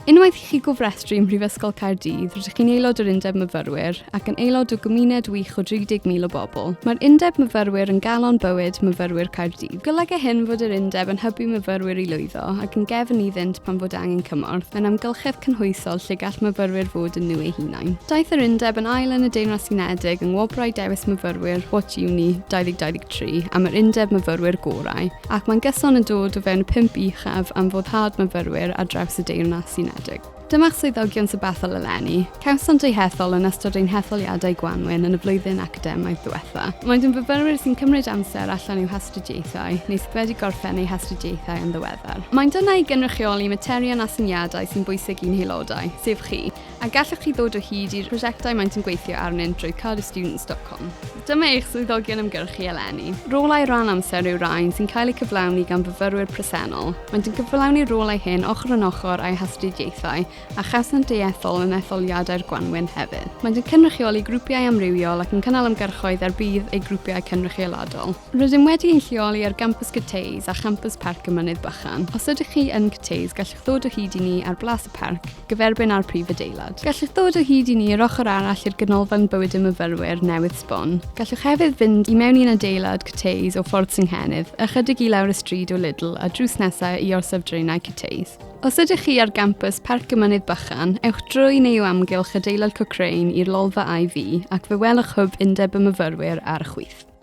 Unwaith i chi gofrestru ym Mhrifysgol Caerdydd, rydych chi'n aelod o'r Undeb Myfyrwyr ac yn aelod o gymuned wych o 30,000 o bobl. Mae'r Undeb Myfyrwyr yn galon bywyd myfyrwyr Caerdydd. Golyga hyn fod yr Undeb yn hybu myfyrwyr i lwyddo ac yn gefn iddynt pan fod angen cymorth, mewn amgylchedd cynhwysol lle gall myfyrwyr fod yn nhw eu hunain. Daeth yr Undeb yn ail yn y Deyrnas Unedig yng Ngwobrau Dewis Myfyrwyr What Uni 2023 am yr Undeb Myfyrwyr Gorau. Ac mae'n gyson yn dod o fewn pump uchaf am foddhad myfyrwyr ar draws y Deyrnas Unedig. Dyma'ch swyddogion sybethol eleni. Cawsant eu hethol yn ystod ein hetholiadau gwanwyn yn y flwyddyn academaidd ddiwetha'. Maent yn fyfyrwyr sy'n cymryd amser allan i'w hastudiaethau neu sydd wedi gorffen eu hastudiaethau yn ddiweddar. Maent yna i gynrychioli materion a syniadau sy'n bwysig i'n haelodau, sef chi. A gallwch chi ddod o hyd i'r prosiectau maent yn gweithio arnynt drwy carystudents.com. Dyma eich swyddogion ymgyrchu eleni. Rolau rhan amser yw rhain sy'n cael eu cyflawni gan fyfyrwyr presennol. Maent yn cyflawni'r rolau hyn ochr yn ochr â'u hastudiaethau a chawsant eu ethol yn etholiadau'r gwanwyn hefyd. Maent yn cynrychioli grwpiau amrywiol ac yn cynnal ymgyrchoedd er budd eu grwpiau cynrychioladol. Rydym wedi ein lleoli ar Gampws Cyteis a Champws Parc y Mynydd Bychan. Os ydych chi yn Cyteis, gallwch ddod o hyd i ni ar Blas y Parc, gyferbyn â'r prif adeilad. Gallwch ddod o hyd i ni yr ochr arall i'r Ganolfan Bywyd y Myfyrwyr newydd sbon. Gallwch hefyd fynd i mewn i'n adeilad Cyteis o Ffordd Synghennydd, ychydig i lawr y stryd o Lidl a drws nesaf i Orsaf Draenau Cyteis. Os ydych chi ar Gampws Parc y Mynydd Bychan, ewch drwy neu o amgylch adeilad Cochrane i'r Lolfa IV ac fe welwch hwb Undeb y Myfyrwyr ar y chwith.